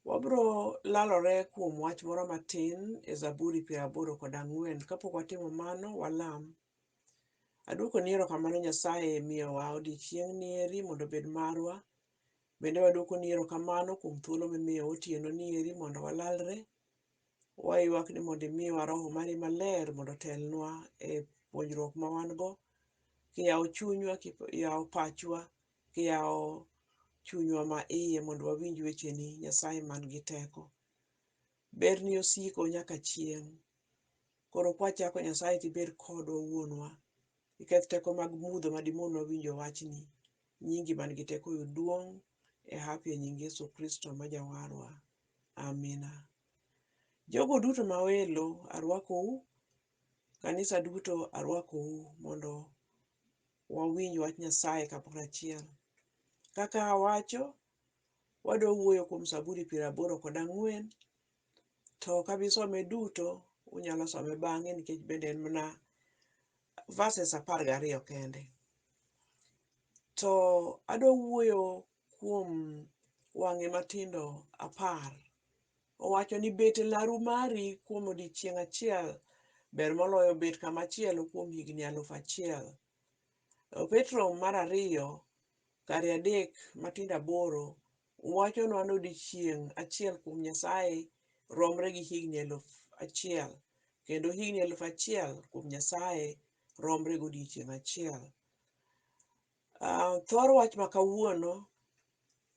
Wabiro lalore kuom wach moro matin e Zaburi piero aboro kod ang'wen. Kapok watimo mano, walam. Adwokoni erokamano Nyasaye miyowa odiechieng'ni eri mondo obed marwa. Bende wadwokoni erokamano kuom thuolo mimiyowa otienoni eri mondo walalre. Waywak ni mondo imiwa Roho mari maler mondo otelnwa e puonjruok ma wan go. Kiyawo chunywa, kiyawo pachwa, Yaw chunywa ma iye mondo wawinj wecheni, Nyasaye man gi teko. Berni osiko nyaka chieng'. Koro kwachako Nyasaye to ibed kodwa wuonwa. Iketh teko mag mudho ma dimonwa winjo wachni. Nyingi man gi teko oyud duong' e hapi e nying Yesu Kristo ma jawarwa. Amina. Jogo duto ma welo arwakou, kanisa duto arwakou mondo wawinj wach Nyasaye kamoro achiel. Kaka awacho, wadwa wuoyo kuom Zaburi piero aboro kod ang'wen, to ok abi some duto, unyalo some bang'e nikech bende en mana verses apar gariyo kende. To adwa wuoyo kuom wang'e matindo apar. Owacho ni, Bet e laru mari kuom odiechieng' achiel ber moloyo bet kama chielo kuom higni aluf achiel. To Petro mar ariyo, kare adek matindo aboro, wachonwa ni odiechieng' achiel kuom Nyasaye romre gi higni aluf achiel, kendo higni aluf achiel kuom Nyasaye romre gi odiechieng' achiel. Uh, thor wach ma kawuono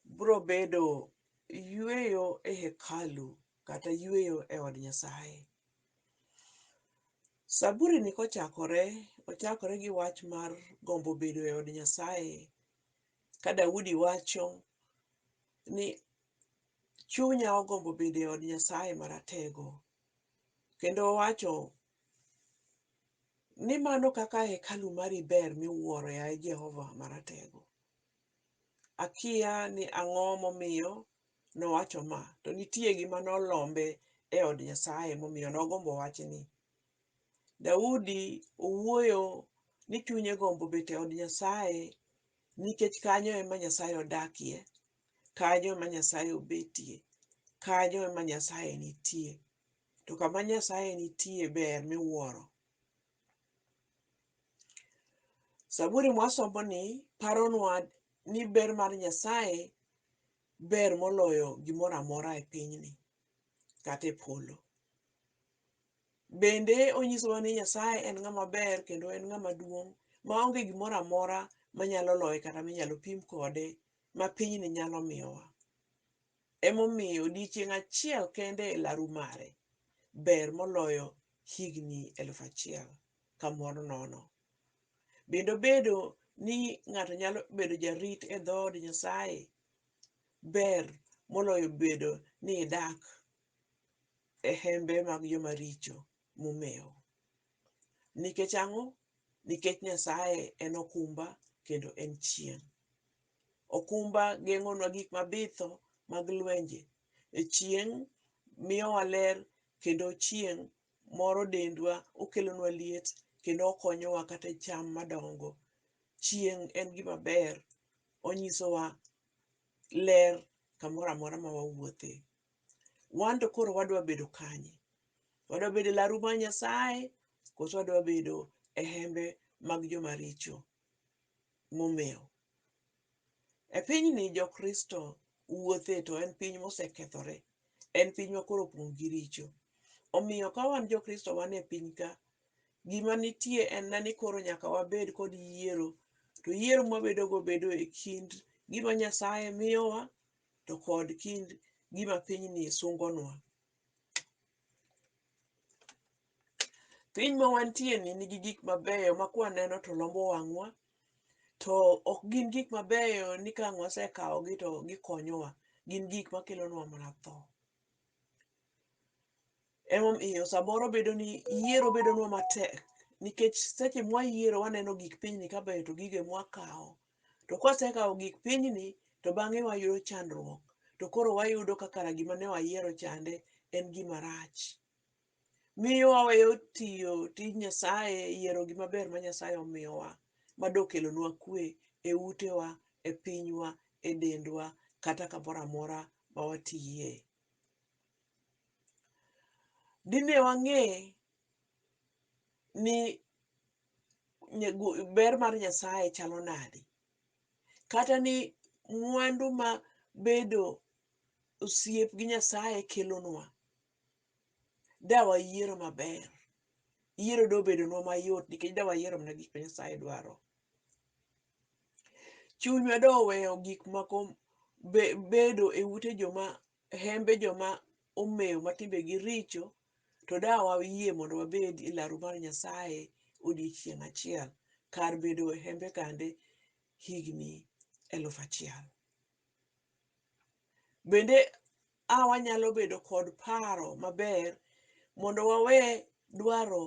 bro bedo yueyo e hekalu kata yueyo e od Nyasaye. Saburi ni kochakore, ochakore gi wach mar gombo bedo e od Nyasaye. Ka Daudi wacho ni chunya ogombo bedo e od Nyasaye maratego. Kendo owacho Ni mano kaka hekalu mari ber miwuoro, yaye Jehova Maratego! Akiya ni ang'o momiyo nowacho ma, to nitie gima nolombe e od Nyasaye momiyo nogombo wachni. Daudi owuoyo ni chunye gombo bet e od Nyasaye nikech kanyo ema Nyasaye odakie, kanyo ema Nyasaye obetie, kanyo ema Nyasaye nitie. To kama Nyasaye nitie ber miwuoro. Zaburi mwasomoni paronwa ni ber mar Nyasaye ber moloyo gimoro amora e pinyni kata e polo. Bende onyisowa ni Nyasaye en ng'ama ber kendo en ng'ama duong' maonge gimoro amora manyalo loye kata minyalo pim kode ma pinyni nyalo miyowa. Emomiyo odiechieng' achiel kende e laru mare ber moloyo higni eluf achiel kamoro nono. Bende obedo ni ng'ato nyalo bedo jarit e dhood Nyasaye ber moloyo bedo ni idak e hembe mag joma richo momewo. Nikech ang'o? nikech Nyasaye en okumba kendo en chieng'. Okumba geng'onwa gik mabitho mag lwenje. E chieng' miyowa ler kendo chieng' moro dendwa, okelonwa liet kendo okonyowa kata e cham madongo. Chieng' en gima ber, onyisowa ler kamoro amora ma wawuothe. Wan to koro wadwa bedo kanye? Wadwa bedo e laru mar Nyasaye koso wadwa bedo e hembe mag joma richo momewo? E pinyni jokristo wuothe to en piny mosekethore, en piny ma koro opong' gi richo. Omiyo ka wan jokristo wan e piny ka, gima nitie en na ni koro nyaka wabed kod yiero to yiero mwabedogo bedo e kind gima Nyasaye miyowa to kod kind gima pinyni sungonwa. Piny ma wantie ni nigi gik mabeyo ma kwaneno to lombo wang'wa, to ok gin gik mabeyo ni ka wasekawogi to gikonyowa. Gin gik makelonwa mana tho. Emomiyo samoro bedo ni yiero bedonwa matek nikech seche mwayiero waneno gik pinyni ka beyo to gigo emwakawo. To kwasekawo gik pinyni to bang'e wayudo chandruok to koro wayudo ka kara gima ne wayiero chande en gima rach. Miyo waweyo tiyo tij Nyasaye, yiero gima ber ma Nyasaye omiyowa ma dokelonwa kwe e utewa, e pinywa, e dendwa kata kamoro amora ma watiye. dine wang'e ni ber mar Nyasaye chalo nade, kata ni mwandu ma bedo osiep gi Nyasaye kelonwa, da wayiero maber. Yiero dobedonwa mayot nikech da wayiero mana gik ma Nyasaye dwaro. Chunywa doweyo gik moko bedo e ute joma e hembe joma omew ma timbegi richo, to da wayie mondo wabed e laru mar Nyasaye odiechieng' achiel, kar bedo e hembe kande higni eluf achiel. Bende a wanyalo bedo kod paro maber mondo wawe dwaro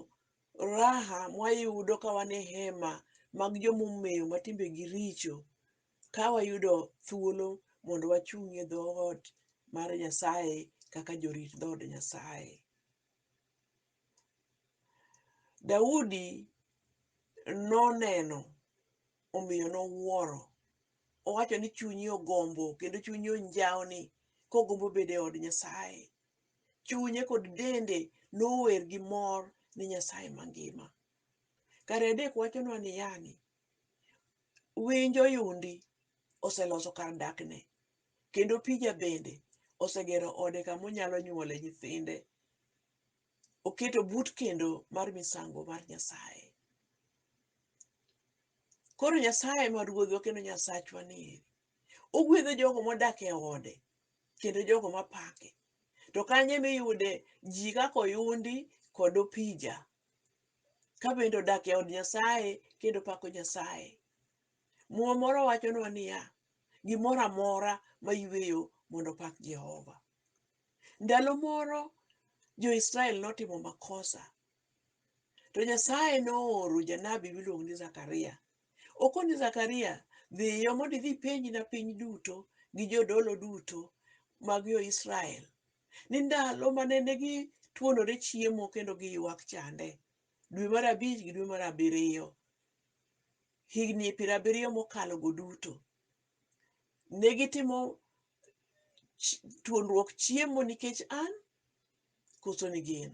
raha mwayudo ka wan e hema mag joma omew ma timbegi richo, Ka wayudo thuolo mondo wachung' e dhoot mar Nyasaye kaka jorit dhood Nyasaye. Daudi noneno omiyo nowuoro. Owacho ni chunye ogombo kendo chunye onjawni kogombo bedo e od Nyasaye. Chunye kod dende nower gi mor ni Nyasaye mangima. Kare adek wachonwa ni yani, Winj oyundi oseloso kar dakne, kendo pija bende osegero ode kama onyalo nyuole nyithinde. Oketo but kendo mar misango mar Nyasaye. Koro Nyasaye ma ruodhwa kendo Nyasachwa ni eri, ogwedho jogo modak e ode kendo jogo mapake. To kanye miyude ji kaka oyundi kod opija ka bende odak e od Nyasaye kendo pako Nyasaye. Muma moro wachonwa niya, gimoro amora mayweyo mondo opak Jehova. Ndalo moro jo-Israel notimo makosa, to Nyasaye nooro janabi miluongo ni Zakaria. Okon ni Zakaria, dhiyo mondo idhi ipenjna piny duto gi jodolo duto mag jo-Israel ni ndalo ma nene gituonore chiemo kendo giywak chande, dwe mar abich gi dwe mar abiriyo, higni piero abiriyo mokalogo duto, ne gitimo chi- tuonruok chiemo nikech an koso ni gin.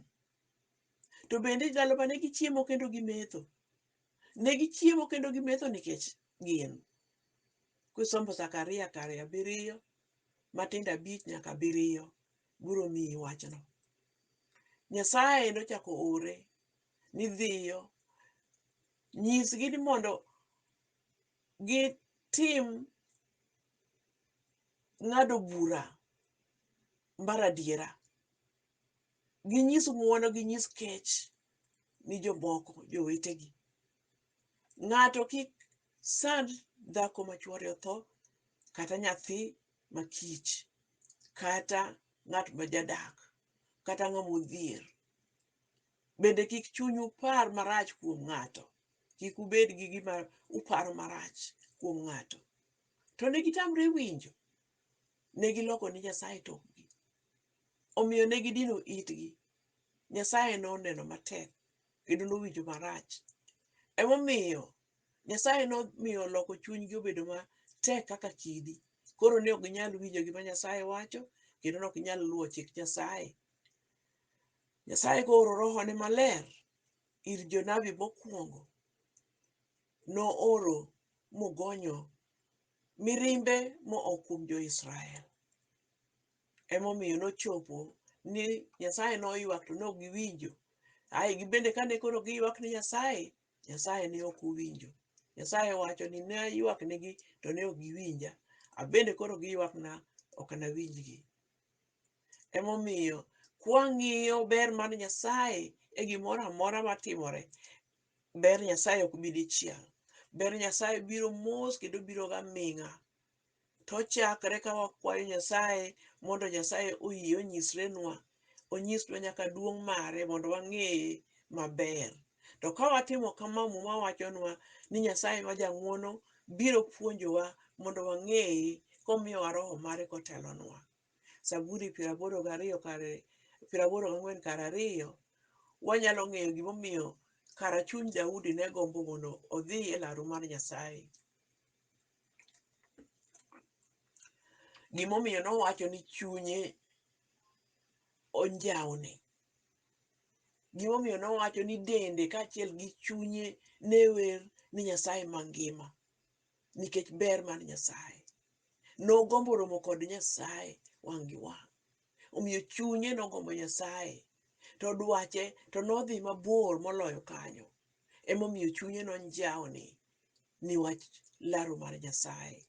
To bende ndalo ma ne gichiemo kendo gimetho, ne gichiemo kendo gimetho nikech gin. Kusombo Zakaria kare abiriyo, matindo abich nyaka abiriyo biro miyi wachno. Nyasaye endo chako ore ni dhiyo nyisgi ni mondo gitim ng'ado bura mar adiera. Ginyis ng'uono, ginyis kech ni jomoko, jowetegi. Ng'ato kik sand dhako ma chwore otho, kata nyathi ma kich, kata ng'at ma jadak, kata ng'ama odhier. Bende kik chunyu par marach kuom ng'ato, kik ubed gi gima uparo marach kuom ng'ato. To ne gitamre winjo, ne giloko ni Nyasaye tokgi. Omiyo ne gidino itgi, Nyasaye noneno matek. kendo nowinjo marach. Emomiyo Nyasaye nomiyo oloko chunygi obedo matek kaka kidi. Koro ne ok ginyal winjo gima Nyasaye wacho kendo ne ok ginyal luwo chik Nyasaye. Nyasaye kooro rohone maler ir jonabi mokwongo, nooro mogonyo mirimbe moa kuom jo-Israel. Emomiyo nochopo ni Nyasaye noywak to nok giwinjo. Ae gibende kane koro giywak ni Nyasaye, Nyasaye ne ok owinjo. Nyasaye wacho ni ne aywak nigi to ne ok giwinja. Abende koro giywakna ok anawinjgi. Emomiyo kwang'iyo ber mar Nyasaye e gimoro amora matimore, ber Nyasaye ok bi dichiel. Ber Nyasaye biro mos kendo biro ga ming'a. To ochakre ka wakwayo Nyasaye mondo Nyasaye oyie onyisrenwa, onyisnwa nyaka duong' mare mondo wang'eye maber. To ka watimo kama, Muma wachonwa ni Nyasaye ma jang'wono biro puonjowa mondo wang'eye komiyowa roho mare kotelonwa. Zaburi piero aboro gariyo kar piero aboro gang'wen kar ariyo, wanyalo ng'eyo gimomiyo kara chuny Daudi ne gombo mondo odhi e laru mar Nyasaye. Gimomiyo nowacho ni chunye onjawni. Gimomiyo nowacho ni dende kaachiel gi chunye ne wer ni Nyasaye mangima nikech ber mar Nyasaye. Nogombo romo kod Nyasaye wang' gi wang'. Omiyo chunye nogombo Nyasaye to dwache to nodhi mabor moloyo kanyo. Emomiyo chunye nonjawni ni wach laro mar Nyasaye.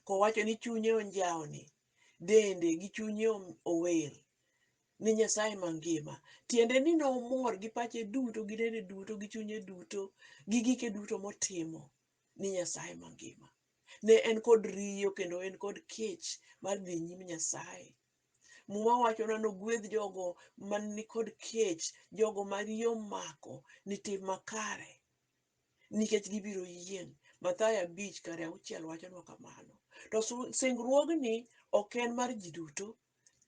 Kowacho ni chunye onjawni, dende gi chunye om- ower ni Nyasaye mangima. Tiende ni nomor gi pache duto, gi dende duto, gi chunye duto, gi gike duto motimo ni Nyasaye mangima. Ne en kod riyo kendo en kod kech mar dhi nyim Nyasaye. Muma wacho na nogwedh jogo man ni kod kech, jogo ma riyo omako ni tim makare. nikech gibiro yieng'. Mathayo abich kar auchiel wachonwa kamano. To su- singruogni ok en mar ji duto,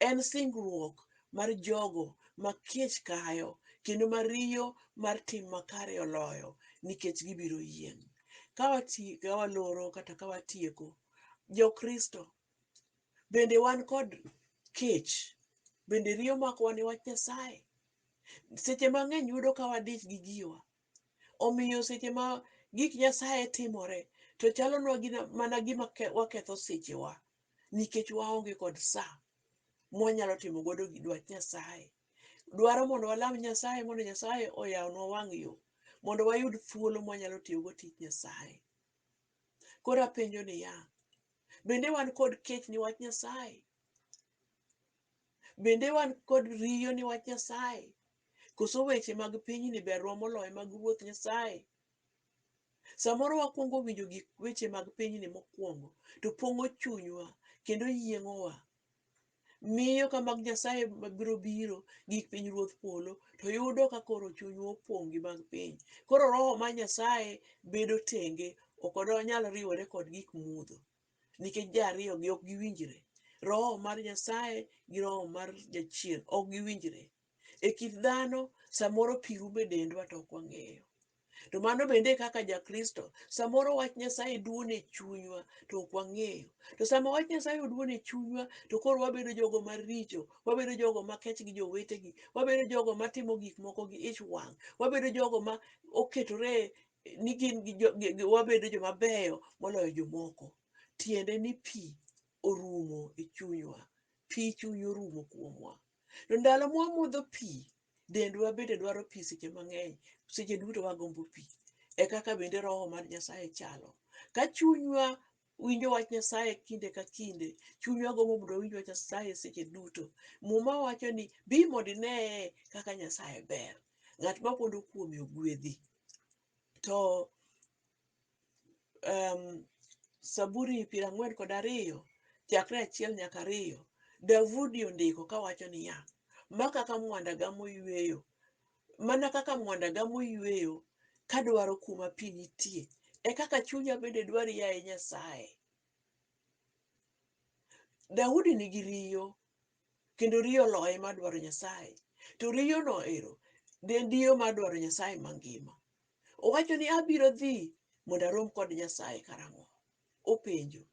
en singruok mar jogo ma kech kayo kendo ma riyo mar tim makare oloyo nikech gibiro yieng'. Ka wati- ka waloro kata ka watieko, Jokristo bende wan kod kech, bende riyo makowa ni wach Nyasaye. Seche mang'eny yudo ka wadich gi giwa, Omiyo seche ma gik Nyasaye timore to chalonwa gina mana gima ke- waketho sechewa nikech waonge kod sa mwanyalo timo godo gi dwach Nyasaye. Dwaro mondo walam Nyasaye mondo Nyasaye oyawnwa wang' yo mondo wayud thuolo mwanyalo tiyogo tich Nyasaye. Koro apenjo niya, bende wan kod kech ni wach Nyasaye? Bende wan kod riyo ni wach Nyasaye? Koso weche mag pinyni berwa moloyo mag Ruoth Nyasaye? Samoro wakwongo winjo gik weche mag pinyni mokwongo to pong'o chunywa kendo yieng'owa. Miyo ka mag Nyasaye mabiro biro gi pinyruodh polo to yudo ka koro chunywa opong' gi mag piny. Koro roho mar Nyasaye bedo tenge ok onyal riwore kod gik mudho. nikech ji ariyogi ok giwinjre. Roho mar Nyasaye gi roho mar jachien ok giwinjre. E kit dhano, samoro pi rumo e dendwa to ok wang'eyo. To mano bende e kaka Jakristo, samoro wach Nyasaye duono e chunywa to ok wang'eyo. To sama wach Nyasaye oduono e chunywa to koro wabedo jogo maricho, wabedo jogo makech gi jowetegi, wabedo jogo matimo gik moko gi ich wang', wabedo jogo ma oketore ni gin gi jo- gi- gi- wabedo joma beyo moloyo jomoko tiende ni pi orumo e chunywa pi chuny orumo kuomwa to ndalo mwamodho pi dendwa bende dwaro pi seche mang'eny seche duto wagombo pi e kaka bende roho mar nyasaye chalo ka chunywa winjo wach nyasaye kinde ka kinde chunywa gombo mondo owinj wach nyasaye seche duto muma wacho ni bi mondo ineye kaka nyasaye ber ng'at ma pondo kuome ogwedhi to um, Saburi piero ang'wen kod ariyo chakre achiel nyaka ariyo Daudi ondiko kawacho niya, ma kaka mwanda gamo yweyo, mana kaka mwanda gamo yweyo kadwaro kuma pi nitie, e kaka chunya bende dwari yaye Nyasaye. Daudi nigi riyo kendo riyo loyo ema dwaro Nyasaye. To riyono ero ne en riyo mar dwaro Nyasaye mangima. Owacho ni abiro dhi mondo arom kod Nyasaye karang'o? Openjo,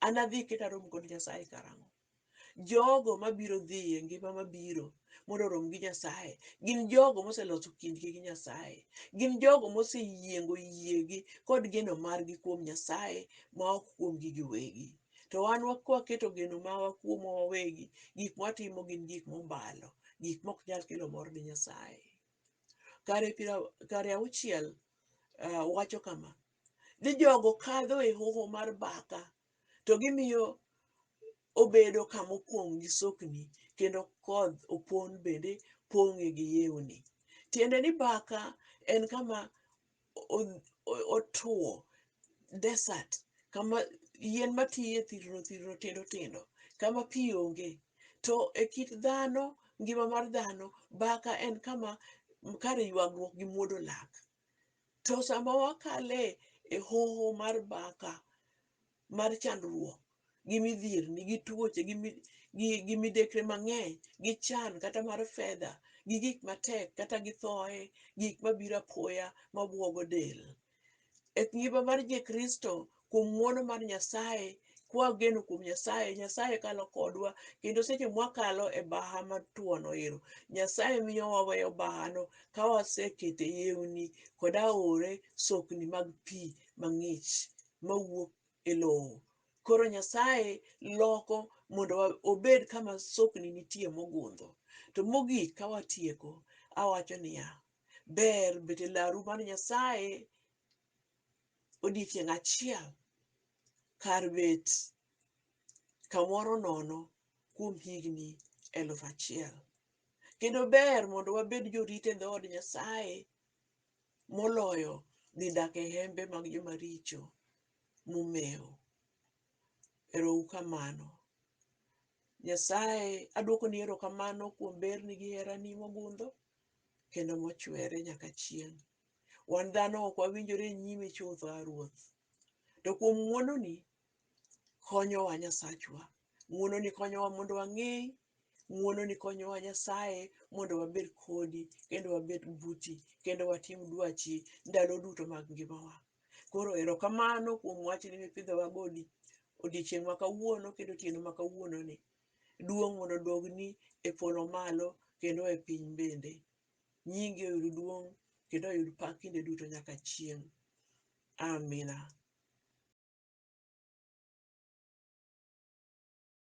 anadhi kendo arom kod Nyasaye karang'o? Jogo mabiro dhi e ngima mabiro mondo orom gi Nyasaye gin jogo moseloso kindgi gi Nyasaye. Gin jogo moseyiengo yiegi kod geno margi kuom Nyasaye ma ok kuomgi giwegi. To wan waketo geno mawa kuomwa wawegi, gik mwatimo gin gik mombalo, gik mok nyal kelo mor ni Nyasaye. Kare piero kare auchiel uh, wacho kama ni jogo kadho e hoho mar baka to gimiyo obedo kama opong' gi sokni kendo kodh opon bende pong'e gi yewni. Tiende ni baka en kama otuo desert kama yien matiye thirno thirno tindo tindo kama pi onge. To e kit dhano, ngima mar dhano baka en kama kar yuagruok gi muodo lak. To sama wakale e hoho mar baka, mar chandruok gi midhierni gi tuoche gi, mi, gi, gi midekre mang'eny gi chan kata mar fedha gi gik matek kata gi thoye gik mabiro apoya mabwogo del e ngima mar jekristo kuom ng'wono mar nyasaye kwageno kuom nyasaye nyasaye kalo kodwa kendo seche mwakalo e baha matuono ero nyasaye miyo waweyo bahano ka wasekete yewni kod aore sokni mag pi mang'ich mawuok e lowo. Koro Nyasaye loko mondo wa- obed kama sokni nitie mogundho. To mogik ka watieko, awacho niya, ber bet e laru mar Nyasaye odiechieng' achiel kar bet kamoro nono kuom higni eluf achiel. Kendo ber mondo wabed jorit e dhood Nyasaye moloyo dhi dak e hembe mag joma richo momewo. Erou kamano. Nyasaye, adwokoni erokamano kuom berni gi herani mogundho kendo mochwere nyaka chieng'. Wan dhano ok wawinjore e nyimi chutho, A Ruoth. To kuom ng'wononi, konyowa Nyasachwa. Ng'wononi konyowa mondo wang'eyi Ng'uono ni konyowa Nyasaye mondo wabed kodi kendo wabed buti kendo watim dwachi ndalo duto mag ngimawa. Koro erokamano kuom wachni mipidhowa go odiochieng' ma kawuono kendo otieno ma kawuono ni. Duong' mondo odogni e polo malo kendo e piny bende. Nyingi oyud duong' kendo oyud pak kinde duto nyaka chieng'. Amina.